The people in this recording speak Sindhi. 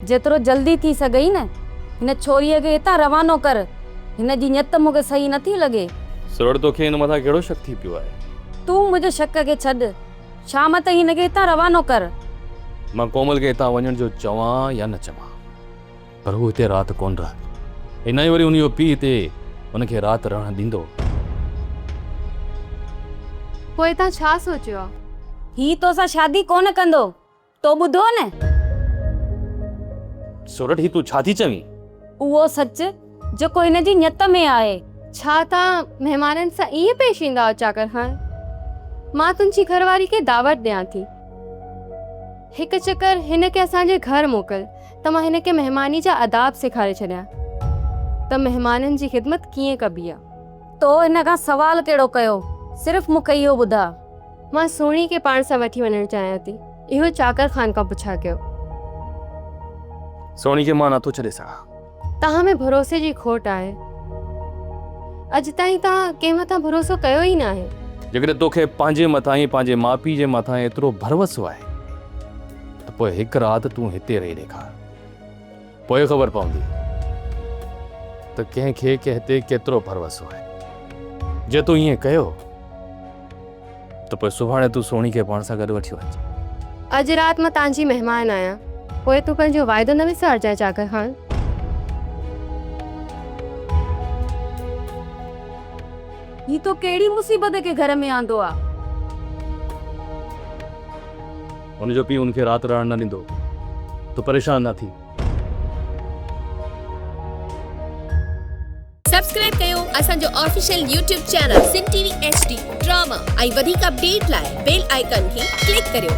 جيترو جلدي ٿي سگهئي نه هن ڇوريء کي هتان روانو ڪر. هن جي نيت مون کي صحيح نٿي لڳي. سرڙ توکي هن مٿان ڪهڙو شڪ ٿي پيو آهي؟ تون منهنجي شڪ کي ڇڏ. شام تائين هن کي هتان روانو ڪر. مان ڪومل کي هتان وڃڻ جو چوان يا نه چوان پر هو هتي رات ڪونه رهندي ۽ نه ئي وري هن جو پيء هتي هن کي رات رهڻ ڏيندو. پوء تان ڇا سوچيو آهي؟ هي توسان شادي ڪونه ڪندو. تو ٻڌو نه؟ سورٺ هي تون ڇا ٿي چوين؟ اهو سچ جيڪو هن جي نيت ۾ آهي. ڇا توهان مهمانن سان ائين پيش ايندا آهيو چاڪر خان؟ مان تنهنجي گهر واري کي دعوت ڏيان ٿي. هڪ چڪر هن کي اسان جي گهر موڪل ته مان هن کي مهماني جا آداب سيکاري ڇڏيان ته مهمانن جي خدمت ڪيئن ڪبي آهي. تو هن کان سوال ڪهڙو ڪيو؟ صرف مون کي اهو ٻڌاء. مان سهڻي کي پاڻ سان وٺي وڃڻ چاهيان ٿي. اهو چاڪر خان کان پڇا ڪيو. سهڻي کي مان نٿو ڇڏي سگهان. توهان ۾ ڀروسي جي کوٽ آهي. اڄ تائين توهان ڪنهن مٿان ڀروسو ڪيو ئي ناهي. جيڪڏهن توکي پنهنجي مٿان ۽ پنهنجي ماء پيء جي مٿان ايترو ڀروسو آهي ته پوء هڪ رات تون هتي رهي ڏيکار. پوء خبر پوندي ته ڪنهن کي ڪنهن تي ڪيترو ڀروسو آهي. جي تون ائين ڪيو ته پوء سڀاڻي تون سهڻي کي پاڻ سان گڏ وٺي وڃجانء. اڄ رات مان تانجي مهمان آهيان. پوء تون پنهنجو واعدو نه وسارجانء چاڪر خان. هي تو ڪهڙي مصيبت کي گهر ۾ آندو آ. هن جو پيء هن کي رات رهڻ نه ڏيندو هو. تون پريشان نه ٿي. سبسڪرائب ڪيو اسان جو official YouTube channel Sindh T V H D drama ۽ وڌيڪ اپڊيٽ لاء بيل آئيڪان کي ڪلڪ ڪريو.